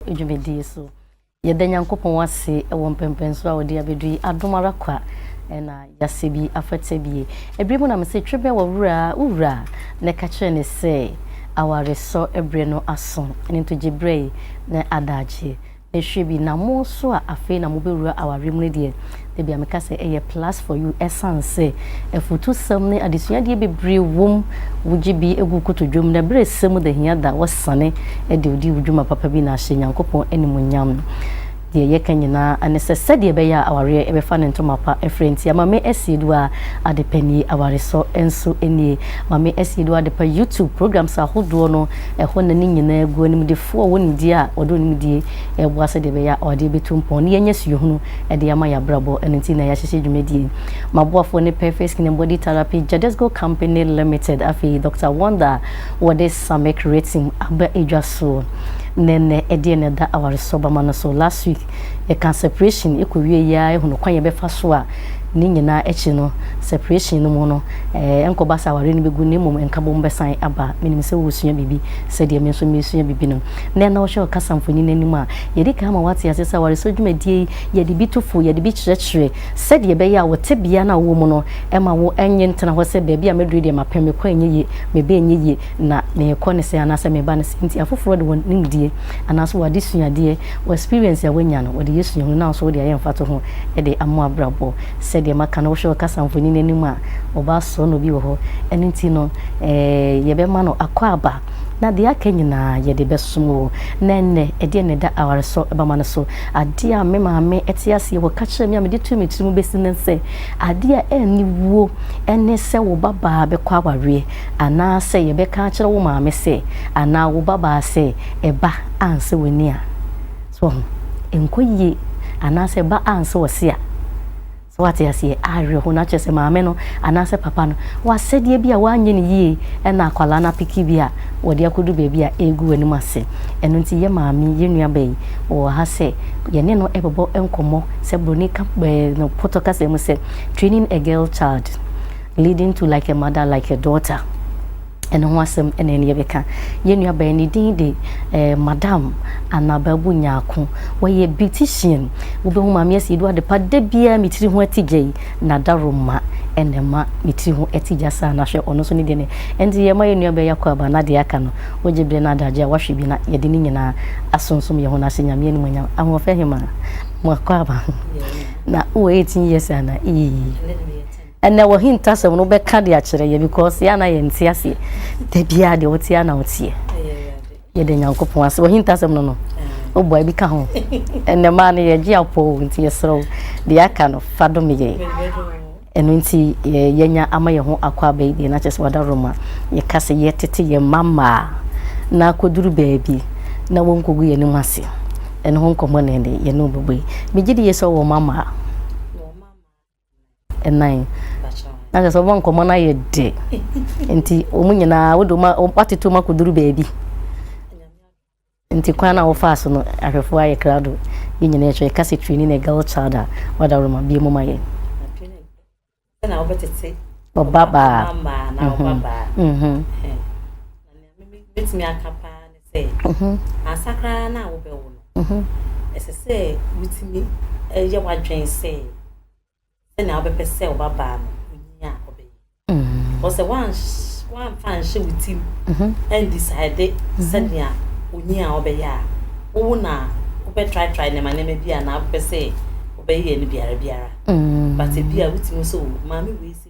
dwumadie so. Yɛda Nyankopɔn ase wɔ mpɛmpɛn so a ɔde abɛdu yi. Adom ara kwa na yɛasɛ bi afata bie. Ɛberɛ mu na me se twebɛn wɔ wura a, wo wura a, na ɛka kyerɛ ne sɛ awaresɔ berɛ no aso. Ɛno nti gye berɛ yi na adaagyeɛ. Ɛhwɛ bi na mo nso a afei na mobɛwura awareɛ mu no deɛ, Ebia meka sɛ ɛyɛ plus for you ɛsiane sɛ afutusɛm ne adesuadeɛ bebree wom, wogye bi gu wo kotodwam na berɛ a ɛsɛ mu da hia da a woasane de wodi wo dwuma papa bi na ahyɛ Nyankopɔn animuonyam. Deɛ yɛka nyinaa ne sɛ sɛdeɛ ɛbɛyɛ a awareɛ bɛfa ne ntoma pa frɛ nti Amame Asieduwa Adepa nie, Awaresɔ nso nie. Amame Asieduwa Adepa YouTube programs ahodoɔ no, ɛhɔ na ne nyinaa gu, animdefoɔ a ɔwɔ nimdeɛ a ɔde wo nimdeɛ boa sɛdeɛ ɛbɛyɛ a awadeɛ bɛtu mpɔn na yɛanya suahunu de ama yɛn abrabɔ. Ɛno nti na yɛahyehyɛ dwumadie yi. M'aboafoɔ ne Perfect Skin and Body Therapy Jadesco Company Limited, afei Doctor Wonder a wɔde Samick Retin aba dwa so. Na ɛnnɛ, ɛdeɛ na ɛda awaresɔbama no so. Last week, yɛkaa separation kɔwie yi ara hunu kwan yɛbɛfa so a ne nyinaa akyi no, separation no mu no, ɛnkɔba sɛ awareɛ no bɛgu na mmom nkabom bɛsan aba. Menim sɛ woresua biribi sɛdeɛ me nso meresua biribi no. Na ɛnnawɔhwɛ ɔkasamfoni no anim a, Yɛadi kan ama woate ase sɛ awaresɛe dwumadie yi, yɛde bi to fo, yɛde bi kyerɛkyerɛ, sɛdeɛ ɛbɛyɛ a wo tebea no a wowɔ mu no, ɛmma wo nnye ntena hɔ sɛ baabi a maduru deɛ mapɛ, mekɔ a ɛnyɛ yie, meba a ɛnyɛ yie, na mekɔ no sɛɛ anaasɛ meba no sɛɛ nti. Afoforɔ de wɔn nimdeɛ anaasɛ wɔn adesuadeɛ, wɔn experience a wɔanya no, wɔde yɛ suahunu na wo nso wode ayɛ mfatoho de ama w'abrabɔ. Sɛdeɛ maka no, wohwɛ ɔkasa mfonini no anim a, ɔbaa sɔɔnɔ bi wɔ hɔ. Ɛno nti no, yɛbɛma no akwaaba. Na deɛ aka nyinaa yɛde bɛsom wo. Na ɛnnɛ, ɛdeɛn na ɛda awaresɔ bama no so? Adeɛ a me maame te aseɛ wɔ ka kyerɛɛ me a mede too me tirim bɛsi nnɛ sɛ, adeɛ a ɛnni wuo ne sɛ wo babaa bɛkɔ awareɛ, anaasɛ yɛbɛka akyerɛ wo maame sɛ, anaa wo babaa sɛ, ɛba ansɛ w'ani a, so woahu, ɛnkɔ yie, anaasɛ ɛba ansɛ ɔse a. So wate aseɛ? Awerɛhoɔ no akyerɛ sɛ maame no anaasɛ papa no w'asɛdeɛ bi a w'anyɛ no yie ɛna akwadaa no apeke bi a wɔde akɔdu baabi a ɛregu w'anim ase. Ɛno nti yɛ maame, yɛ nua ba yi, wɔwɔ ha sɛ yɛne no bɛbɔ nkɔmmɔ sɛ broni ka ɛɛ no pɔtɔ kasa mu sɛ training a girl child leading to like a mother like a daughter. Ɛno ho asɛm na ɛne yɛbɛka. Yɛn nuabaa yi, ne din de Madam Anababu Nyarko. Ɔyɛ beautician. Wobɛhu Maame Asiedu adepa da biara me tiri ho atigya yi, n'adaroma na ɛma me tiri ho atigya saa no. Hwɛ, ɔno nso ne deɛ no yɛ. Nti yɛma yɛn nuabaa yi akɔ aba na deɛ aka no, wogye berɛ na adagye a woahwɛ bi na yɛde ne nyinaa asonsom yɛn ho na ahyɛ Nyame animuonyam. Ahoɔfɛ Hemaa, moakɔ aba na wowɔ eighteen years anaa? Eii. Ɛnɛ wɔ hintasɛm no wobɛka de akyerɛ yɛ because yɛ na yɛ nte aseɛ da biara deɛ wote ana woteɛ yɛda nyankopɔn ase wɔ hintasɛm no no wobɔ ebi ka ho ɛnɛ maa no yɛgye apɔw nti yɛserɛ wo deɛ aka no fa dom yɛ ɛno nti yɛnya ama yɛ ho akɔ aba yi deɛ na kyerɛ sɛ wada roma yɛka sɛ yɛtete yɛ mma mmaa na akɔduru baabi na wɔnkɔgu yɛ anim ase ɛno ho nkɔmmɔ ne ɛne yɛne wobɛbɔ yi megye de yɛ sɛ wɔ mma mmaa ɛnan na kyerɛ sɛ wɔn nkɔmmɔ no ayɛ dɛ nti wɔn nyinaa wode watete wɔn akɔduru baabi nti kwan no a wɔfaa so no ahwɛfoɔ ayɛ krado yɛ nyinaa ɛhwɛ ɛka sɛ twini ne girl child a wadaworo ma bie mu ma yɛ ɔbabaa mɛtumi aka paa ne sɛ mhm. ansa koraa no a wobɛwo no mhm. ɛsɛ sɛ wotumi yɛ w'adwene sɛ sɛnea wobɛpɛ sɛ wobabaa no ɔnyi a ɔbɛyɛ mhm. ɔsɛ woamfa nhyɛ wo tim ɛndisade sɛnea ɔnyi a ɔbɛyɛ a wowo no a wobɛtraetrae nneɛma nneɛma bi a na wopɛ sɛ wobɛyɛ no biara biara but bi a wotumi sɛ maame wei sɛ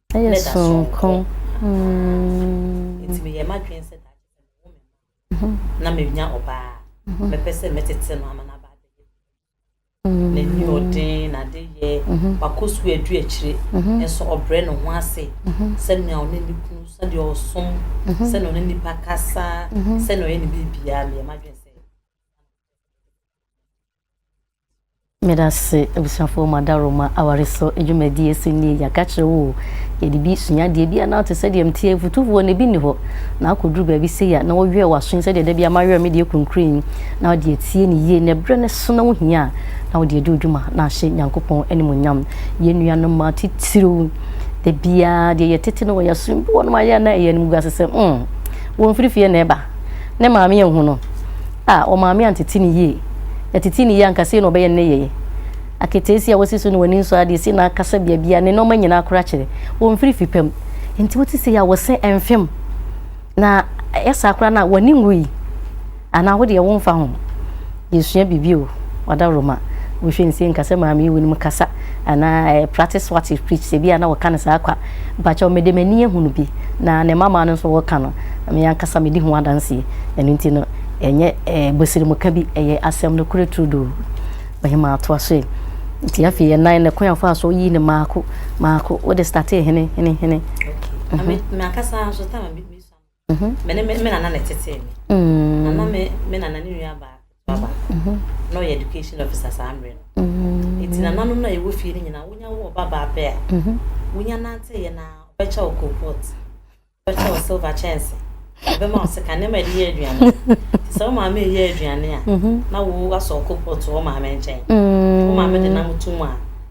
Ɛyɛ soronko. Nti meyɛɛ m'adwene sɛ daakye sɛ mewo me mma na menya ɔbaa a, mɛpɛ sɛ mɛtete no ama no aba abɛyɛ biribi. N'aniɔden, n'adeyɛ, wakɔ sukuu adu akyire, nso ɔbrɛ ne ho ase sɛnea ɔne ne kunu, sɛdeɛ ɔsom, sɛnea ɔne nnipa kasa, sɛnea ɔyɛ ne biribiara. Meyɛɛ m'adwene sɛ. Medase abusuafoɔ ma adaworo ma aware so dwumadie ɛsɛ nie yɛaka kyerɛ wo o yɛde bi sua adeɛ bi a na te sɛ deɛ mteɛ afutufoɔ na ebi ni hɔ na akɔduru baabi sei a na wɔwerɛ w'aso sɛ deɛ da bi a mawerɛ me deɛ kurunkuru yi na wode atie ne yie na ɛberɛ no so na wohia a na wode adi odwuma na ahyɛ Nyankopɔn animonyam yɛn nuanom ma titiriw da biara deɛ yɛtete no wɔ yɛasom bi wɔnom ayɛ na ɛyɛ no mu ase sɛ mm wɔn firifie na ɛba Ne maame anhu no. A Wɔn maame antete no yie. Yɛtetee no yie anka sei na ɔbɛyɛ nneyɛeɛ. Aketeesia a wasi so ne w'ani nsɔ adeɛ, sei na akasa biabiaa, ne nnoɔma nyinaa koro akyere. Wɔmfiri fi pa mu. Nti wote sei a wɔse mfe mu. Na ɛyɛ saa koraa no a w'ani nwui. Anaa wo deɛ womfa ho. Yesua biribi o, Ɔdawuroma. Wonhwɛ nsie nka sɛ maame yi wonim kasa anaa ɛɛ practice what you preach sɛ ebia na wɔka no saa kwa. Mpakyɛw mede m'ani ahu no bi na ne mmabaa no nso wɔka no na me ankasa medi ho adanseɛ. Ɛno nti no ɛnyɛ ɛɛ bosiremka bi, ɛyɛ asɛm nokorɛ turodoo. Ɔhemaa toa so ɛ. Nti afei ɛnan no kwan a ɔfaa so yii no maako maako. Wode startee hene hene hene. Okay. Na me me ankasa nso time a me me sua no. Mm-hmm. Me ne me nana na ɛtetee me. Mm-hmm. Na na me me nana ne nua baa baba. Mm-hmm. Na ɔyɛ education officer saa mmerɛ no. Eti nananom na yɛwɔ fie no nyinaa wonya wɔ ɔba baa pɛ a. Wonya nante yɛ na ɔbɛkyɛ wɔ coal pot. Ɔbɛkyɛ wɔ silver kyɛnse. Ɔbɛma wɔ sika nneɛma yɛde yɛ aduane. Te sɛ wo maame yɛ aduane a na wo asɔ coal pot wɔ maame nkyɛn. Wo maame de nam to mu a.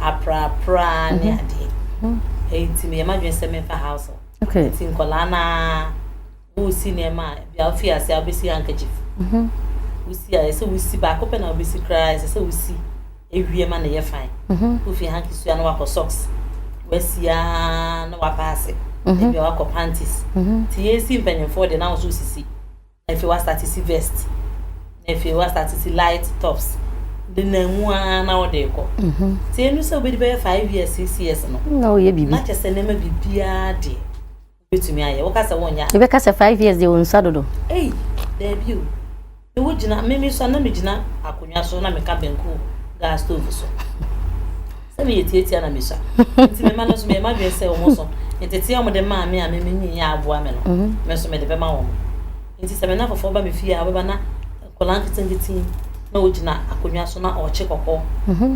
aprapraa ne adeɛ nti meyɛ m'adwene sɛ memfa house okay. nti nkɔlaa no a wosi nneɛma a bia wofi ase a wobɛsi handkerchief mhm. wosi a ɛsɛ wosi baako pɛ na wobɛsi koraa ɛsɛ sɛ wosi ewie ma na ɛyɛ fan mhm. wofi hanki sua na wakɔ socks wasi a na wapaase mhm. ebia wakɔ panties nti yɛsi mpanyimfoɔ deɛ na ahosuo sisi Afei wɔastate si vest, na afei wɔastate si light tops denam mu ara na wɔde rekɔ. Nti ɛnu sɛ wobɛdi bɛyɛ five years, six years no, na woyɛ biribi, na kyɛ sɛ nneɛma biribiara deɛ wobɛtumi ayɛ. Woka sɛ wonyɛ a. Wobɛka sɛ five years deɛ ɔnsua dodo. Ei, daabi o. Ne wogyina, me me sua na megyina akonnwa so na meka banku gas stove so. Sɛ meyɛ tiatia na mesua. Nti me mma no nso meyɛ m'adwene sɛ wɔn nso nteteɛ a wɔde maa me a me menyin yɛ aboa me no, me nso mede bɛma wɔn. Nti sɛ me nna foforɔ ba me fie a ɔbɛba na nkwadaa nketenkete na ɔgyina akonnwa so na ɔrekye kɔkɔɔ.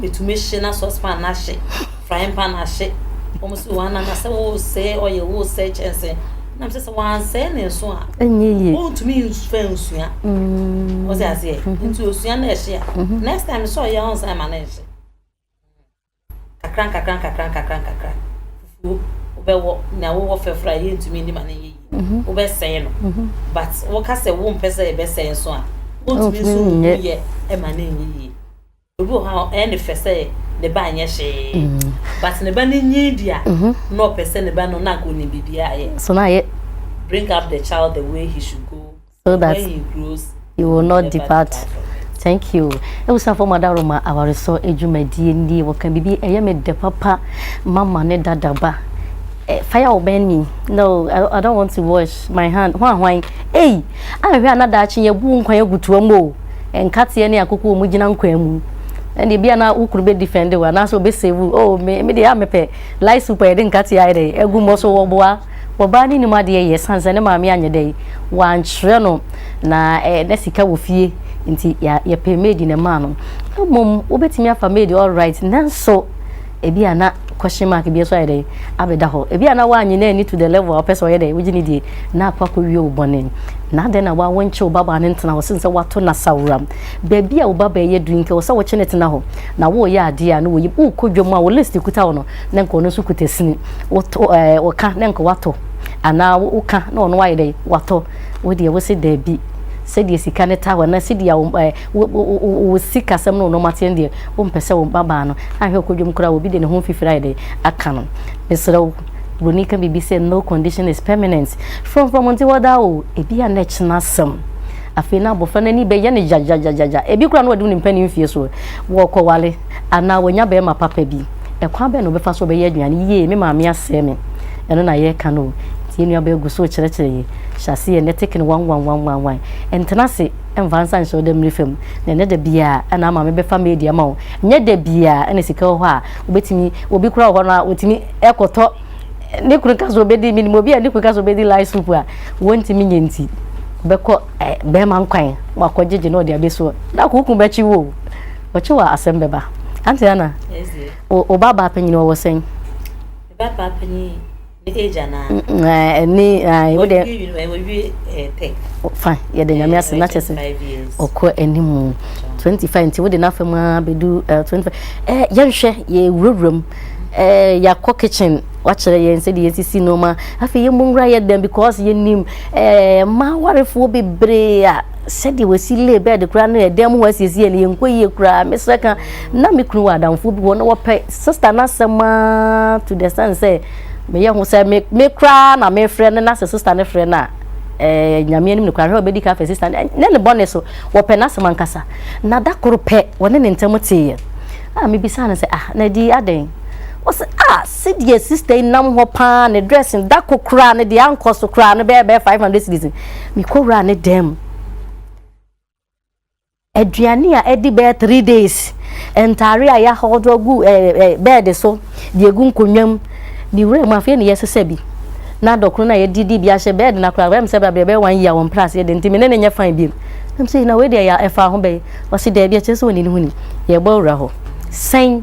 Ɛtumi hye na saucepan no ahye, frying pan ahye. Wɔn si wɔn anan asɛ wɔresɛe ɔyɛ wɔresɛe kyɛnse. Nam sɛ sɛ wɔansɛe ne nso a, wɔntumi mfa nsua. Wɔsɛ aseɛ. Nti osua na ɛhye a, next time sɛ ɔyɛ a ɔnsan ma no nhye. Nkakra nkakra nkakra nkakra nkakra fufuo wobɛwɔ na wowɔ fɛforo a yɛntumi nni ma no yɛ yie mhm. wobɛsɛe no mhm. but woka sɛ wompɛ sɛ yɛbɛsɛe nso a wontumi nso nyɛ ɛma no nyɛ yie obi wɔ hɔ a ɛne fɛ sɛ ne ba nyɛ hwee mhm. but ne ba no nyi di a na ɔpɛ sɛ ne ba no na nka ɔnim biribiaa yɛ so na yɛ bring up the child the way he should go so that you will not depart thank you ebusuafo ma daro ma awaresɔ adwumadie nie wɔka biribi ɛyɛ me dɛ papa mama ne dadaba eh, fire will burn me no I, I don't want to wash my hand ho ahwan ei ahwɛ a na daakye yɛbu nkwan agutoa mu o nkateɛ ne akoko wɔn gyina nkwan mu ɛna ebi a na wo kunu bɛ defend wa anaasɛ ɔbɛ save o oh, me me deɛ a mepɛ light super yɛde nkateɛ ayɛ dɛ egu mmɔ so wɔboa Ɔbaa no nnim adeɛ yɛ ɛsiane sɛ ne maame anyɛ dɛn, wankyerɛ no na na sika wɔ fie nti yɛpɛ maid na ɛmaa no. Mmom wobɛtumi afa maid alright nanso ebi a na question mark bi nso ayɛ dɛn abɛda hɔ. Ebi a na woanye na ani to the level a ɔpɛ sɛ ɔyɛ dɛn wogye ne die na akɔ akɔwie wo bɔne. Na adɛn na wawo nkye wo babaa no ntena hɔ sen sɛ wato no asaworam. Baabi a wo babaa yi aduru yi nka wɔ sɛ wokye no tena hɔ na woreyɛ adeɛ a na woyi wokɔ dwam a wo list kuta wo no. na nka ɔno nso kuta sini wotɔ ɛɛ ɔka na nka watɔ anaa woka na ɔno ayɛ dɛ watɔ wo deɛ wose daabi sɛdeɛ sika no ta hɔ na sɛdeɛ a wɔn ɛɛ wo wo wo wo sikasɛm no nneɛma teɛ no deɛ wompɛ sɛ wo mmabaa no ahwɛ ɔkɔ dwom koraa obi de ne ho mfifiri ayɛ dɛ aka no mesrɛ wo buroni ka biribi sɛ no condition is permanent frɔmfrɔm nti hɔ daa o ebi a na ɛkyena asɛm afei na abɔfra no ani bɛyɛ no gyagyagyagyagya ebi koraa na ɔde ne mpanin mfie soɔ wɔkɔwale Anaa wanya barima papa bi. Ɛkwan bɛn na ɔbɛfa so ɔbɛyɛ aduane yie? Me maame asɛe me. Ɛno na yɛreka no o. Nti yɛn nuabaa gu so rekyerɛkyerɛ yɛn. Hyɛ aseɛ nnɛ take no one one one one one. Ntena ase mfa nsa nhyɛ wo damire fam. Na ɛnyɛ da biara na maame bɛfa maid ama wo. Ɛnyɛ da biara na sika wɔ hɔ a wobɛtumi, obi koraa wɔ hɔ no a ɔtumi kɔtɔ, ne kunu ka sɛ ɔbɛdi, menim obi a ne kunu ka sɛ ɔbɛdi light soup a wɔntumi nyɛ nti ɔbɛkɔ barima nkwan, wakɔgyegye na ɔde abɛsi hɔ. Daako wo kunu bɛkye wo o. Ɔkye wa asɛm bɛba. Auntie Anna, wo wo ba baa panyin ɔwɔ sɛn? Ba baa panyin ne age anaa? Mm, eh, ɛni, ah, wo deɛ, Wɔwie uni- eh, wɔwie eh, tech. fine, yɛde nyame Eh, ase ɔyɛ na kyɛ sɛ 25 years. ɔkɔ anim mu. 25 nti wode n'afam ara bɛdu eh, 25 eh, yɛnhwɛ yɛwurawura mu eh, yɛakɔ kitchen wakyerɛ yɛn sɛde yɛsisi nneɛma afei yɛmmɔ nwura yɛ dɛn because yɛnim eh, ma warefoɔ bebree a sɛdeɛ wɔsi lay bed koraa no ɛdan mu hɔ asiesie no yɛnkɔ yie koraa mesrɛ ka na me kunu wɔ adamfoɔ bi hɔ na wɔpɛ sista no asɛm aa to the sense sɛ meyɛ ho sɛ me me koraa na mefrɛ no na sɛ sista no frɛ no a ɛɛ eh, nyame anim no koraa hwɛ ɔbɛdi ka afɛ sista no ne ne bɔne so wɔpɛ n'asɛm ankasa na da koro pɛ wɔne ne ntam teeɛ a mebisaa no sɛ ah na di adɛn wɔsɛ ah Sedeɛ sister yi nam hɔ paa ne dress no da ko koraa no deɛ ankɔ so koraa no bɛyɛ bɛyɛ five hundred cedis mekɔ wura ne dan mu aduane a ɛdi bɛyɛ three days ntaare a yɛahɔdo agu ɛɛ eh, eh, bɛɛde so deɛ gu nkonnwa mu ne wura mu afei ne yɛsesa bi na dɔkono no a yɛde di bi ahyɛ bɛɛde no koraa bɛm sɛ bɛbrɛ bɛyɛ one year wɔn mpra aseɛ de nti me ne ne nyɛ fan biom nam sɛ na wei deɛ ɛfa ho bɛyɛ ɔse daabi akyerɛ sɛ wɔne ne ho ni yɛbɔ wura hɔ sɛn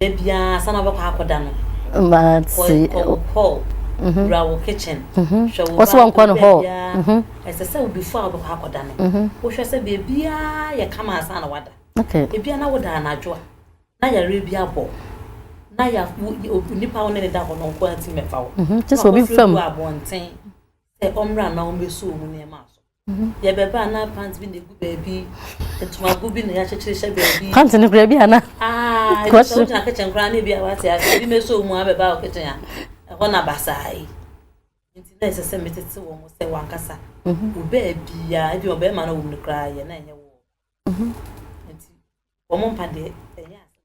Da biara ansa na wobɛkɔ akɔda no, kɔ wo hɔl, wura wo kitchen, hwɛ wo ba a ɔda biara, ɛsɛ sɛ wo before a wobɛkɔ akɔda no, wohwɛ sɛ baabiara yɛ kama ansa na woada. Ebia na woda anadwo a, na yareɛ bi abɔ wo, na ya wo nipa a wo ne no da hɔ no nko ara ntumi mɛfa wo, na wakɔfrɛ obi wɔ abɔnten sɛ ɔmmra na ɔmmɛsuo wo nneɛma so. Yɛ bɛba a na pant bi na egu baabi, ntomago bi na yɛakyekyere hyɛ baabi. Pant no kura bi ana? Aa, ebi sɛ wogyina kitchen koraa na ebi a wate ase, ebi meso mu abɛba wɔ kitchen a, ɛhɔ na basaa yi. Nti na ɛsɛ sɛ metete wɔn sɛ wankasa. Obaa biara, ebi ɔbɛrima na wɔn no koraa yɛ na ɛnyɛ wɔ. Nti wɔn mpa deɛ ɛnyɛ ase.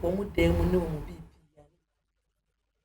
Wɔn dan mu ne wɔn bi.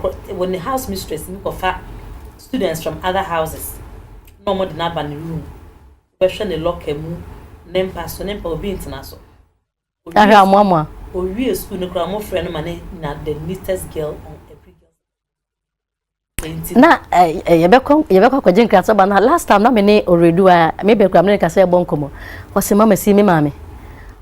Kɔ wɔ ne house mistress bi kɔ fa students from other houses na ɔmo de no aba ne room bɛ hwɛ ne locker mu ne mpa so ne mpa obi ntena so ahwɛ amoamoa owie school no kora ɔmo frɛ no ma ne na the neatest girl on every girl na yɛbɛkɔ yɛbɛkɔ akɔgye nkrasɛ ba na last time na me ne ɔredu a me bɛ kura me ne kasɛ ɛbɔ nkɔmɔ ɔsi mama si me maame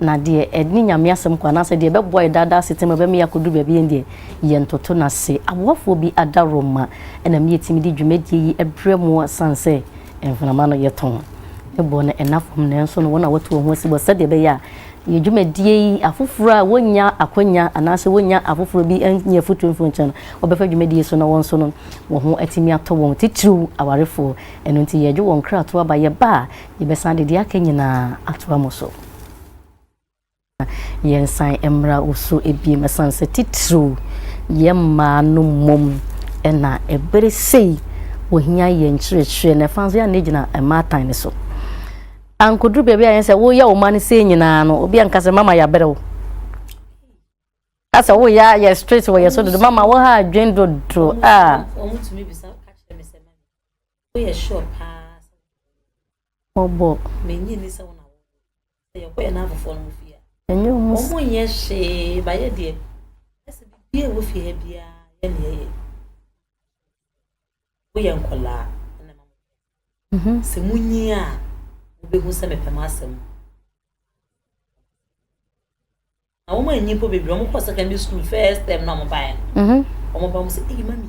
Na deɛ ɛne Nyame asɛm kɔ anaasɛ deɛ ɛbɛboa yɛ daadaa asetena mu, ɛbɛma yɛakɔduru baabi a ɛndeɛ yɛntoto no ase. Aboafoɔ bi adaworoma na me yɛtumi de dwumadie yi brɛ mo asiane sɛ mframa no yɛtɔn. Ne boɔ no nna fam nanso no wɔn na wɔto wɔn ho asibɔ sɛdeɛ ɛbɛyɛ a yɛ dwumadie yi afoforɔ a wɔnnya akwanya anaasɛ wɔnnya afoforɔ bi nni afotuo mfiri wɔn nkyɛn no wɔbɛfa dwumadie yi so na wɔn nso no wɔn ho atumi atɔ wɔn titiriw awarefoɔ. Ɛno nti yɛdwo wɔn nkratoɔ aba yɛba a Yɛbɛsan de deɛ aka nyinaa atoa mo so. Na yɛnsan mmra wo so bio, ɛsiane sɛ titiriw yɛn mmaa no mmom na bere sei wɔhia yɛn nkyerɛkyerɛ, na ɛfa nso yɛn a na yɛgyina mmaatan no so. Ankoduru baabi a yɛn sɛ woyɛ wo mma no sei nyinaa no, obi anka sɛ mama yɛabrɛ wo. Asɛ woyɛ a yɛ straight wɔ yɛ so dodo, mama wo ha adwen dodo a. Woyɛ sure paa sɛ wɔbɔ. Mennye nni sɛ wo na wɔbɔ. Sɛ yɛkɔyɛ na afoforɔ no fie a. Ɛnyɛ ɔmo. Ɔmo nyɛ hwee ba yɛ deɛ. Ɛsɛ biribi a ɛwɔ fie ha biara yɛ ne yɛyɛ. Woyɛ nkɔlaa ɛna ma mo. Sɛ mo nyi a wobɛhu sɛ mepɛ mo asɛm. Na wɔn anyi mpo bebree wɔn kɔ secondary school first term na wɔn baeɛ no. Wɔn ba wɔn sɛ eyi mami.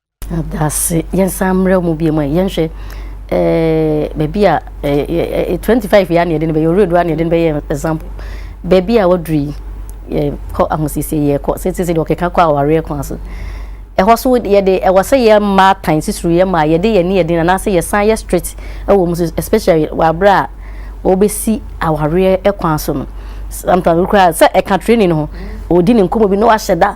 Dase. Yɛnsan mmra mu biom ɛ, yɛnhwɛ eh, baabi a eh, eh, 25 yɛ a na yɛde no bɛyɛ, ɔwerɛdu a na yɛde no bɛyɛ example. Baabi a waduru yi, yɛkɔ ahosiesie, yɛkɔ sɛti sɛ deɛ ɔkeka kɔ awareɛ kwan so. Ɛhɔ so yɛde, ɛwɔ sɛ yɛ mmaa tan sisiri yɛ mmaa, yɛde yɛne yɛde na anaasɛ yɛsan yɛ strict ɛwɔ mu so, especially wɔ aberɛ a wɔbɛsi awareɛ kwan so no. Sometimes wokura sɛ ɛka training no ho, ɔdi ne nkɔmmɔ bi na wahyɛ da.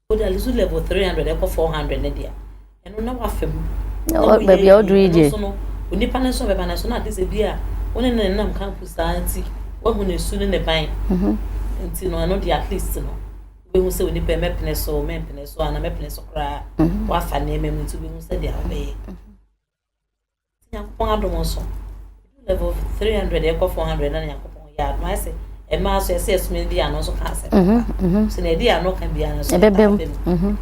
Wode Alizu level three hundred ɛkɔ four hundred ne deɛ ɛno na wafa mu. Baabi a ɔduru yi deɛ. Ɛno no onipa no nso bɛba no nso na ade sɛ bi a wɔne ne nam campus saa nti wahu ne su ne ne ban. Mhm. Nti no ɛno deɛ at least no wobɛhu sɛ onipa mɛpene so mɛmpene so ana mɛpene so koraa mhm. wafa nneɛma mu nti wobɛhu sɛ deɛ wobɛyɛ. Mhm. nyankopɔn adom so level 300 ɛkɔ 400 na nyankopɔn yɛ adom ayɛ sɛ ɛmaa so ɛsɛ ɛsoma di ano nso ka asɛm mhm, mhm. so na ɛdi ano ka bia no so ɛbɛbɛm mhm.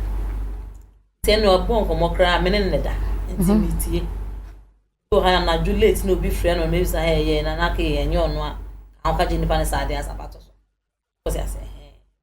sɛ na ɔbɔ nkɔmmɔ koraa mene ne da nti metie so ha anadwo late na obi frɛ no na ebisa ha ɛyɛ na na kɛyɛ ɛnyɛ ɔno a ka ho kagye nipa ne saa adeɛ asabato so kɔsi asɛ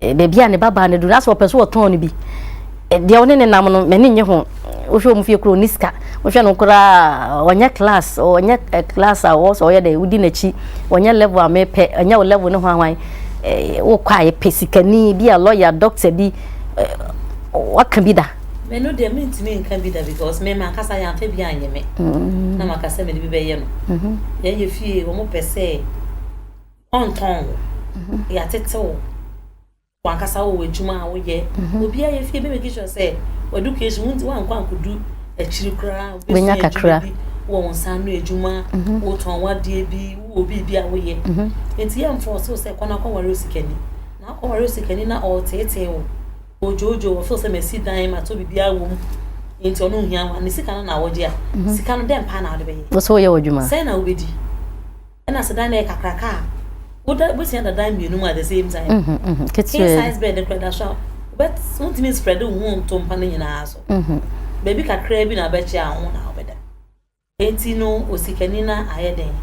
Eh, baabi a ne babaa no duru asɛ ɔpɛ so ɔtɔn no bi eh, deɛ ɔne ne nam no m'ani nye ho wohwɛ ɔmu fie kuro ne sika wohwɛ no koraa ɔnyɛ class ɔnyɛ eh, class a ɔwɔ sɛ ɔyɛ dɛ wodi n'akyi ɔnyɛ level a mepɛ ɔnyɛ wo level no ho ahwan eh, wokɔ a yɛpɛ sikani bi a lɔya doctor bi eh, waka bi da me no deɛ mentumi nka bi da because me mankasa yɛamfa bi anyɛ me mm. na maka sɛ mede bi bɛyɛ no mm-hmm. yɛyɛ fie wɔn pɛ sɛ Ɔntɔn wo. Mhm. Yɛatete wo. Wankasa wɔ w'adwuma a woyɛ. Mhm. Obiara yɛ fie bɛmɛki sure sɛ w'education wonti wankɔ ankodu akyiri koraa. Bɛnya kakra. Wɔ wo nsa ano adwuma, mhm. wotɔn wadeɛ bi, wowɔ biribi a woyɛ. Nti yɛ mfɔ so sɛ kɔ na kɔware osikani. Na akɔware osikani na ɔreteetee wo. Odwoodwo wɔ feel sɛ masi dan matɔ biribiara wɔ mu. Nti ɔno nhia wa ne sika no na awɔgye a. Sika no dɛn paa na wode bɛyɛ? Wo so woyɛ w'adwuma. Sɛn na wobɛdi? ɛna sɛ dan no yɛ kakraka a woda wobɛsua da dan mmienu mu at the same time mm -hmm, mm -hmm. king size bed kora da so a wontumi spread wo ho nto mpa no nyinaa so mm -hmm. baabi kakraa bi na wobɛkyɛ a ho na wobɛda enti no osikani no ayɛ den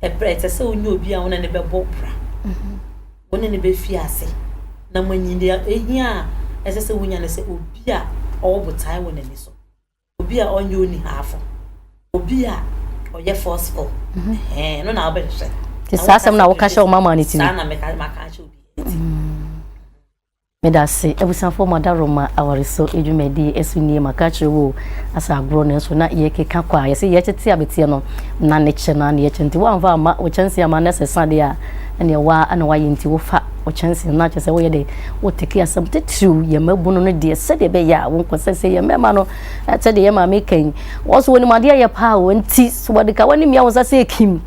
ɛprɛ ɛsɛ sɛ wonyɛ obi a wo ne ne bɛbɔ bra mhm. wo ne ne bɛfi ase na moanyi deɛ ɛhia a ɛsɛ sɛ wonya no sɛ obi a ɔwɔ botae wɔ n'ani so Obi a ɔnyɛ onihafo, obi a ɔyɛ forceful, mhm. ɛhɛn no na wobɛhwehwɛ. Te saa asɛm na woka hyɛ wo mama ne tiri. Saa na meka maka ahyɛ obi ne tiri. Mm. Meda ase abusuafoɔ mo adaroma awareso adwumadie ɛso nie maka akyerɛ wo asa agorɔ nanso na yɛkeka kɔ a yɛsɛ yɛkyete abɛteɛ no na ne kyɛ no a ne yɛkyɛ nti woamfa ama wo kyɛnse ama no sɛ sa deɛ a ɛneɛ woa na woayɛ nti wofa wo kyɛnse no akyɛ sɛ woyɛ dɛ woteke asɛm titiriw yɛ mmabunu no deɛ sɛdeɛ ɛbɛyɛ a wonkɔsɛ sɛ yɛ mmarima no sɛdeɛ yɛ maame ka yi wɔn so wɔnim adeɛ yɛ paa wɔn nti so wɔde ka wɔn mmea wɔn nsa sɛ ekim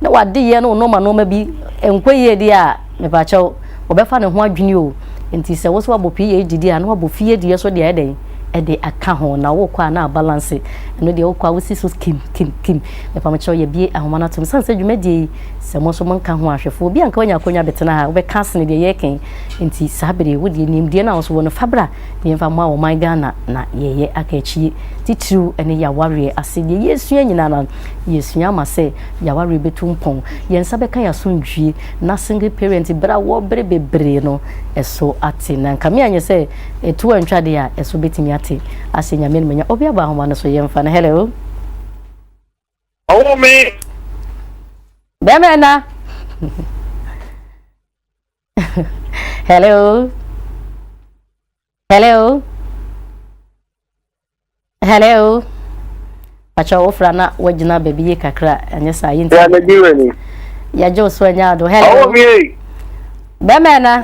na wɔade yɛ no nnoɔma nnoɔma bi nkɔ yie deɛ a mepaakyɛw wɔbɛfa ne ho adwene o nti sɛ wo so wabɔ pii yɛ didi a na wabɔ fie deɛ so deɛ ɛdɛn ɛde aka ho na wokɔ a na abalanse ɛno deɛ wokɔ a wosi so kim kim kim mepaakyɛw yɛbie ahoma no atom sane sɛ dwumadie yi Sɛ mo nso mo nka ho ahwɛfoɔ, obi a nka wanya akonya bɛtena ha, wobɛka asene deɛ yɛreka yi. Nti saa bere yi, wo deɛ nimdeɛ no a wo nso wɔ no, fa bra na yɛmfa mmoa ɔman Ghana na yɛyɛ aka akyie. Titiriw ɛne yawareɛ ase deɛ yɛresua nyinaa no, yɛresua ama sɛ yawareɛ bɛtu mpɔn. Yɛn nsa bɛka yɛn asomdwie na single parent bere a wɔ bere bebree no ɛso ate. Na nka me anyɛ sɛ ɛtoɔ antwa deɛ a ɛso bɛtumi ate ahyɛ Nyame animuonyam. Obi abɔ ahoma no so, yɛmfa no. Hello. Ɔwo me. Dɛmɛ na. Hello. Hello. Hello. Pacha wofra na wagyina baabi yie kakra ɛnyɛ saa yɛ nti. Yɛ anagye wɔ ni. Yɛgye wo so anya ado. Hello. Ɔwo me. Dɛmɛ na.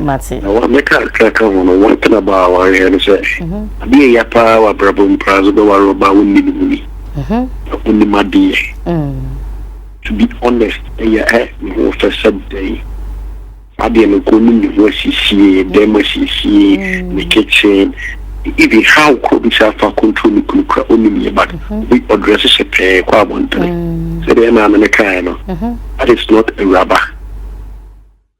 Mate. Na wa mɛka kakra aka ho no, one thing about awareɛ no sɛ, adeɛ a ɛya paa wɔ abrabɔ mu koraa sɛ wobɛware ɔbaa a wonni ne ho ni, na ɔnim adeɛ. To be honest, ɛyɛ ɛ, ne ho fɛ sɛ dɛn? Saa deɛ no nka ɔnim ne ho asiesie, dan mu asiesie, ne kitchen, even how korɔ ɔbɛsi afa control ne kunu koraa ɔnim yɛ but obi ɔdrɛse hyɛ pɛɛ kɔ abɔntene sɛdeɛ ɛmaa no no kaeɛ no, that is not awuraba.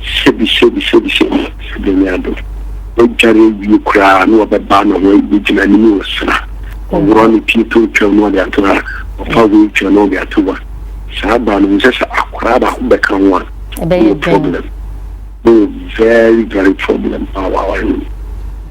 Hyebi, hyebi, hyebi, hyebi, sɛdeɛ ne ado. Wadware awie koraa na ɔbɛba na wagyina anim resra. Ɔworɔ ne pie tontwam na ɔde ato ha, ɔfa wheelchair na ɔde ato hɔ. Saa baa no, wohu sɛ sɛ akwadaa baako bɛka ho a, wowɔ problem. Wowɔ very, very problem a w'aware no mu.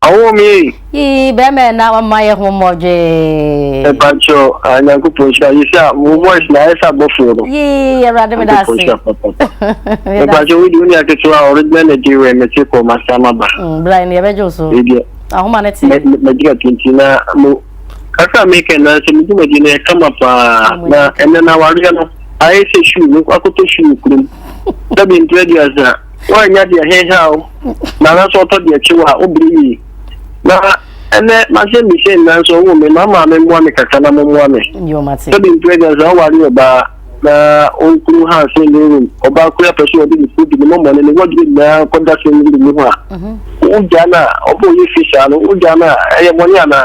Awo mi ei. Yii bɛrima yɛ na ɔma yɛ ho mmɔdwee. Ɛpa kyɛ o, ah, Nyankopɔn nhyira. Yɛ sɛ wo voice na ayɛ sɛ abɔfoɔ no. Yii, Awurade me da ase. Nyankopɔn nhyira papa. Ɛpa kyɛ wo di wo ni aketewa original na di wɛ mete kɔ ma sa ma ba. Mm, bra ni ɛbɛgye wo so. Ɛdeɛ. Ahoma ne te. Mɛgyina tinti na mo kasa mi kɛ na sɛ mo di mo di na ɛka ma paa na ɛnɛ na wareɛ no ayɛ sɛ shoe no akɔtɔ shoe kurom. Sɛbi ntrɛ di asa. Wɔanya deɛ heha o. na nanso ɔtɔ deɛ kyew a ɔbrɛ yie na ɛnɛ mahyɛ mmehyɛ nnan nso ɔwɔ me ma maame mmoa me kakra na mommoa me sɛbi mprɛgya sɛ ɔware ɔbaa na ɔnkuru ha sɛ ne rum ɔbaa kura pɛ so ɔde ne kuro bi ne mɔmɔ ne ne wɔdere nyinaa kɔda sɛ ne mu ho a wogya no a ɔbɔ yɛ fi saa no wogya no a ɛyɛ mɔne anaa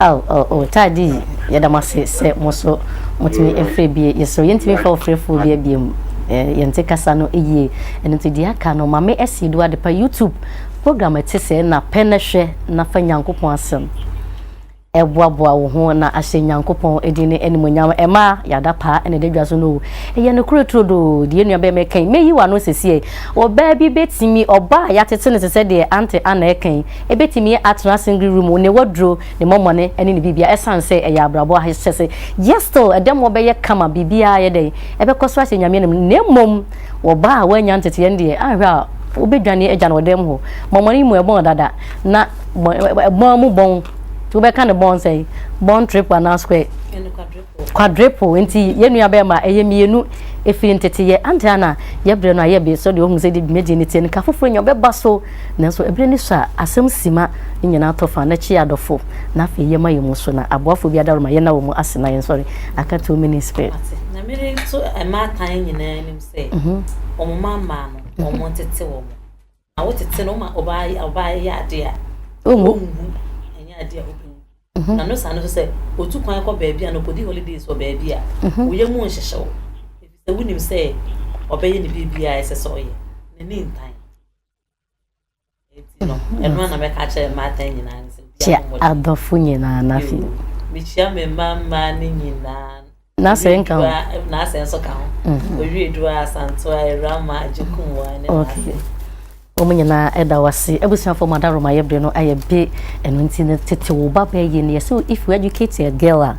Aw oh oh Taddy yɛda mo ase sɛ mo nso motumi frɛ bie yɛsrɛ yɛntumi fa ɔfrɛfoɔ bia bia mu yɛnte kasa no yie ɛno nti deɛ aka no ma me asie do adepa youtube program ɛte sɛ na pɛ na hwɛ na fa nyankopɔn asɛm ɛboaboa wo ho na ahyɛ nyankopɔn ɛdin ne animonyam ɛma yɛada paa ɛna ɛda dwa so no ɛyɛ no korɛ turo do deɛ nua bɛɛ mɛkan mɛyi wɔ ano sɛsie ɔbaa bi bɛtumi ɔbaa yɛatete no te sɛ deɛ ante ana ɛkan Ebetumi atena asengri ru mu, ne waduro, ne mɔmɔne ne ne biribiara ɛsan sɛ ɛyɛ abrabɔ ahyɛse. Yet still ɛdɛmoɔ bɛyɛ kama, biribiara ayɛ dɛn, ɛbɛkɔ so ahyɛ Nyame anim. Na mmom wɔ baa a wannya nteteɛ no deɛ, anhwɛ a wobɛdwane agya no wɔ dɛm hɔ. Mɔmɔne yi mu ɛbɔn dada, na ɛbɔn mu bɔn, nti wobɛka no bɔn sɛn? Bɔn trip anaa square? Quadruple nti yɛn nua bɛɛ ma ɛyɛ mmienu ɛfiri ntete yɛ ante ana yɛbrɛ no ayɛ be so deɛ ɔhu sɛ de dwumadie no tie no ka foforɔ nya ɔbɛba so nanso ɛberɛ ni so a asɛm sima ne nyinaa tɔ fa na kyi adɔfo na afei yɛ ma yɛ mu so na aboafo bi adaworo ma yɛn na wɔ mu ase na yɛn sɔre aka too many spirit na mene nso ɛmaatan nyinaa nim sɛ wɔn ma mmaa no wɔn ntete wɔn. Na wo tete no ma ɔbaa yi ɔbaa yi yɛ adeɛ a ɔnhu ɛnyɛ adeɛ a ɔbɛhu mhm. na no saa no so sɛ ɔtu kwan kɔ baabi a na ɔkɔdi holidays wɔ baabi a mhm. woyɛ mu nhyehyew ɛfisɛ wonim sɛ ɔbɛyɛ ne biribiaa ɛsɛ sɛ ɔyɛ n'ani ntan ɛti no mhm. ɛno ana mɛka kyerɛ mmaatan nyinaa ne sɛ kyɛ adɔfo nyinaa no afei mekyia me mma mmaa no nyinaa N'asɛe nka ho. Owiedua n'asɛe nso ka ho. Mhm. Owiedua, Asantoa, Awurama, Agyekum wɔ ne n'asɛe. Wɔn nyinaa ɛda wase. Abusuafo ma da Roma yɛ bere no ayɛ be. Ɛno nti no tete wo ba bɛɛ yie no yɛ sɛ if you educate a girl a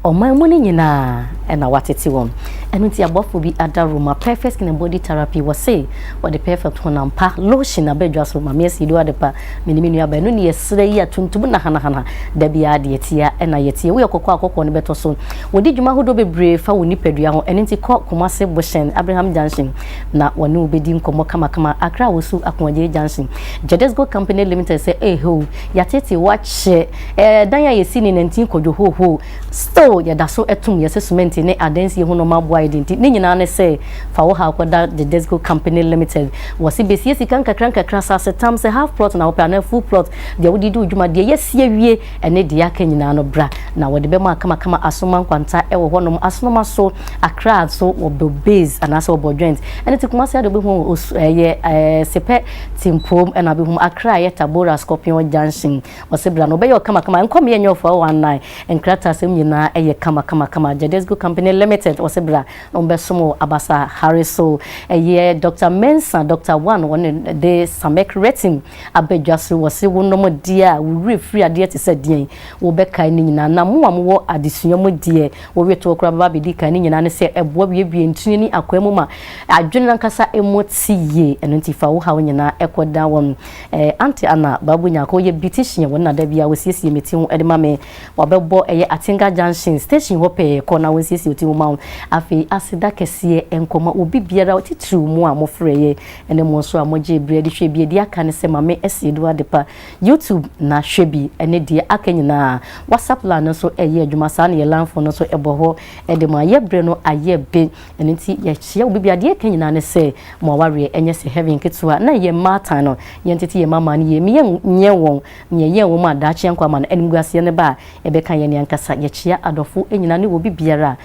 ɔman mu no nyinaa ɛna watete wɔn. Ɛno nti abɔfo bi ada Roma perfect skin and body therapy wɔ se wɔde perfect honam pa lotion aba adwa so ma me asi do adepa me ne me nua ba ɛno ne yɛsrɛ yi a tuntum na hanahana da biara deɛ tia ɛna yɛtie woyɛ kɔkɔɔ a kɔkɔɔ no bɛtɔ so Wɔdi dwuma ahodoɔ bebree fa wo nipadua ho, ɛno nti kɔ Kumasi Bohyɛn, Abraham Junction, na wɔne wo bɛdi nkɔmmɔ kamakama. Accra Wosu Akoagyei Junction, Jadesco Company Limited sɛ eehoo, yɛateetee wo akyɛ, ɛɛ, dan a yɛsi ne nantin kɔ dwohoohoo, still yɛda so tom yɛn sɛ sumɛnti ne adansie ho nnoɔma aboa yɛn de nti ne nyinaa ne sɛ fa wo haw kɔda Jadesco Company Limited. Wɔse bɛsie sika nkakrankakra, asasetam, sɛ half plot na wopɛ anaa full plot, deɛ wode di wo dwuma, deɛ yɛasi awie, ɛne deɛ aka nyinaa no bra na wɔde bɛma akamakama asonoma nkwanta wɔ hɔnom asonoma so akra nso wɔ bɔ base anaasɛ wɔ bɔ joint ɛne te kumase ade wobɛhu wɔ osu ɛyɛ ɛɛ sepɛ timpoom ɛna wobɛhu akra a ɛyɛ tabora scorpion junction wɔse bra na wɔbɛyɛ ɔkamakama nkɔmeɛ ɛnyɛ ɔfoa wɔ anan nkrata asɛm nyinaa ɛyɛ kamakamakama jadesco company limited wɔse bra na wɔbɛsom wɔ abasa hare so ɛyɛ dr mensa dr one wɔne de samek retin Abadwa so, wɔse wonom deɛ a, wo werɛ firi adeɛ te sɛ deɛn? Wobɛkae ne nyinaa. Na mo a mowɔ adesua mu deɛ, wowetoɔ koraa bɛba abɛdi kan. Ne nyinaa ne sɛ, ɛboa buebue ntini ne akwaa mu ma adwene no ankasa mu te yie. Ɛno nti fa wo haw nyinaa kɔda wɔn. Eh, Aunty Anna, Babu Nyarko, ɔyɛ beautician wɔ ne nna da biara, ɔsiesie me ti ho de ma me. Wabɛbɔ ɛyɛ Atenga Junction station hɔ pɛɛ, kɔ na wɔnsiesie wo ti ho ma wo. Afei, aseda kɛseɛ nkɔma obi biara, titiriw mo a mofrɛeɛ. Ɛne mo nso a mo gyee bere de hwɛɛ bi adi aka ne sɛ Mame Asiedu Adepa YouTube na hwɛ bi ne deɛ aka nyinaa. WhatsApp line no nso ɛyɛ adwuma saa na yɛ line phone no nso ɛbɔ hɔ de ma yɛ bere no ayɛ be ɛno nti yɛkyea obi bia deɛ ɛka nyinaa ne sɛ mo awareɛ ɛnyɛ sɛ heaven ketewa na yɛ mmaatan no yɛn tete yɛ mama no yie me yɛn nyɛ wɔn ne yɛn yɛn wɔn a daakye yɛn kɔ ama no animguaseɛ no ba a ɛbɛka yɛn ne ankasa yɛkyea adɔfo nyinaa ne wɔ bi biara a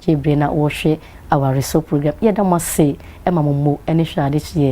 Gyebere na wɔhwɛ awaresɔ program. Yɛda mo ase ma mo mmo ne hwɛ ade kyeɛ